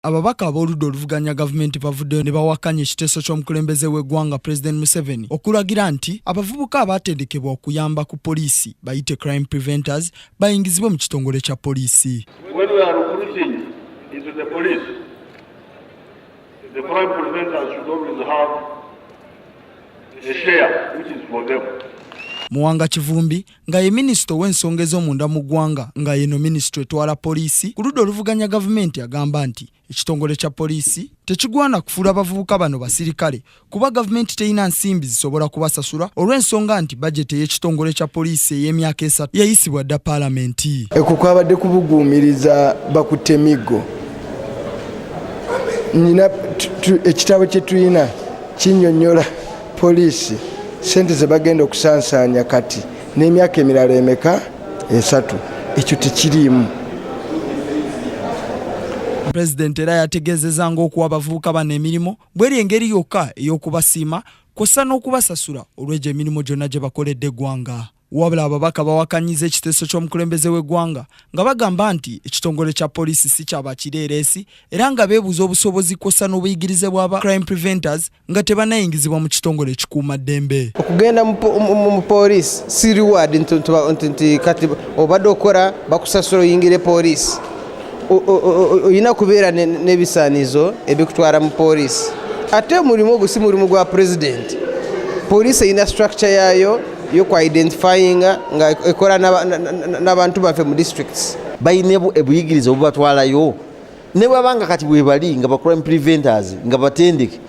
Ababaka ab'oludda oluvuganya gavumenti bavuddeyo ne bawakanya ekiteeso ky'omukulembeze w'eggwanga Pulezidenti Museveni okulagira nti abavubuka abaatendekebwa okuyamba ku poliisi bayite crime preventers bayingizibwe mu kitongole kya poliisi. Muwanga Kivumbi nga ye minisita ow'ensonga ez'omunda mu ggwanga nga yeno minisitule etwala poliisi ku ludda oluvuganya gavumenti agamba nti ekitongole kya poliisi tekigwana kufuula abavubuka bano basirikale kuba gavumenti terina nsimbi zisobola kubasasula olw'ensonga nti bajeti ey'ekitongole kya poliisi ey'emyaka esatu yayisibwa dda paalamenti ekwo kwabadde kubuguumiriza bakutte miggo nina ekitabo kye tulina kinyonyola Poliisi sente ze bagenda okusansaanya kati n'emyaka emirala emeka esatu ekyo tekiriimu. Pulezidenti era yategeezezza ng'okuwa abavubuka bano emirimu bweri engeri yokka ey'okubasiima kw'ossa n'okubasasula olw'egyo emirimu gyonna gye bakoledde eggwanga. Wabula ababaka bawakanyiza ekiteeso ky'omukulembeze w'eggwanga nga bagamba nti ekitongole kya poliisi si kya bakireereesi era nga beebuuza obusobozi kwossa n'obuyigirize bwa ba crime preventers nga tebanayingizibwa mu kitongole ekikuuma ddembe. Okugenda mu poliisi si reward nti kati obadde okora bakusasula oyingire poliisi. Olina kubeera n'ebisaanizo ebikutwala mu poliisi. Ate omulimu ogwo si mulimu gwa pulezidenti. Poliisi erina structure yaayo. yo kwa identifyinga nga ekola n'abantu baffe mu districts balina ebuyigiriza obubatwalayo ne bwabanga kati bwebali nga ba crime preventers nga batendeke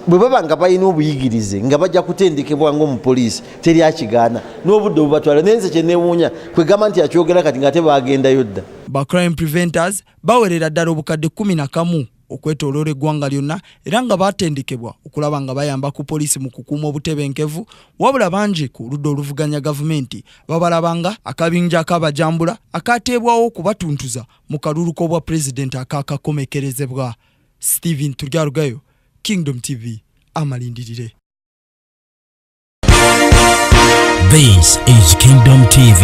bwe baba nga balina obuyigirize nga bajja kutendekebwa ngaomupoliisi teri akigaana n'obudde obubatwala naye nze kyenewuunya kwegamba nti akyogera kati nga ate bagendayo dda ba crime preventers bawerera ddala obukadde kumi na kamu okwetoloola eggwanga lyonna era nga baatendekebwa okulaba nga bayamba ku poliisi mu kukuuma obutebenkevu wabula bangi ku ludda oluvuganya gavumenti babalabanga akabinja akabajambula akaateebwawo okubatuntuza mu kalulu k'obwa pulezidenti akaakakomekerezebwa stephen turyarugayo kingdom tv amalindirire This is Kingdom TV.